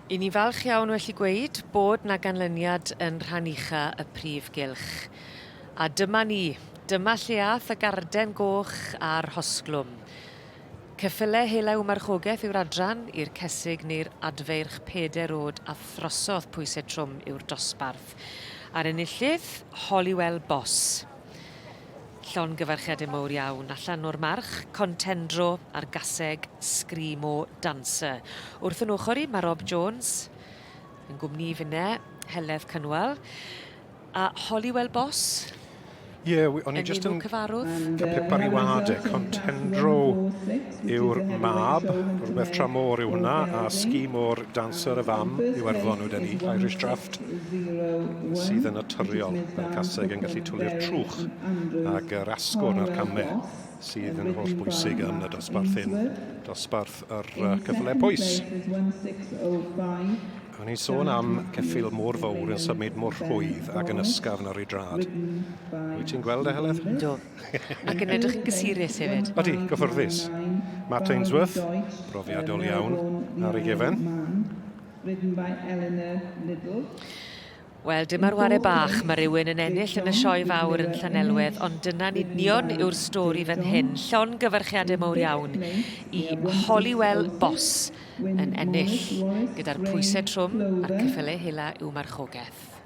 I ni falch iawn well i gweud bod na ganlyniad yn rhan ucha y prif gylch. A dyma ni, dyma lle ath y garden goch a'r hosglwm. Ceffyle helew marchogaeth yw'r adran i'r cesig neu'r adfeirch peder od a throsodd pwysau trwm yw'r dosbarth. A'r enillydd, Holywell Boss. Llongyfarchiadau mowr iawn allan o'r March, Contendro a'r Gaseg, Screamo Dancer. Wrth yn ochr i, mae Rob Jones, yn gwmni i finne, Heledd Cynwal, a Holywell Boss, Ie, o'n i just yn... Cyfarwdd. Pepper i wade, Contendro yw'r mab, rhywbeth tra môr yw hwnna, a ski môr dancer y fam yw erfon wyd ni, Irish Draft, sydd yn naturiol. Mae'r caseg yn gallu twli'r trwch ag yr asgwrn a'r camme sydd yn holl bwysig yn y dosbarth hyn, dosbarth yr cyfle pwys. O'n i'n sôn am ceffil môr fawr yn symud mor rhwydd ac yn ysgafn ar ei drad. Wyt ti'n gweld e, Heledd? Do. Ac yn edrych yn gysurus hefyd. Odi, gyffyrddus. Matt Ainsworth, brofiadol iawn ar ei gefen. Wel, dyma'r ware bach, mae rhywun yn ennill yn y sioe fawr yn Llanelwedd, ond dyna'n union yw'r stori fan hyn. Llon gyfarchiadau mawr iawn i Holywell Boss yn ennill, gyda'r pwysau trwm a'r cyffyle hela i'w marchogaeth.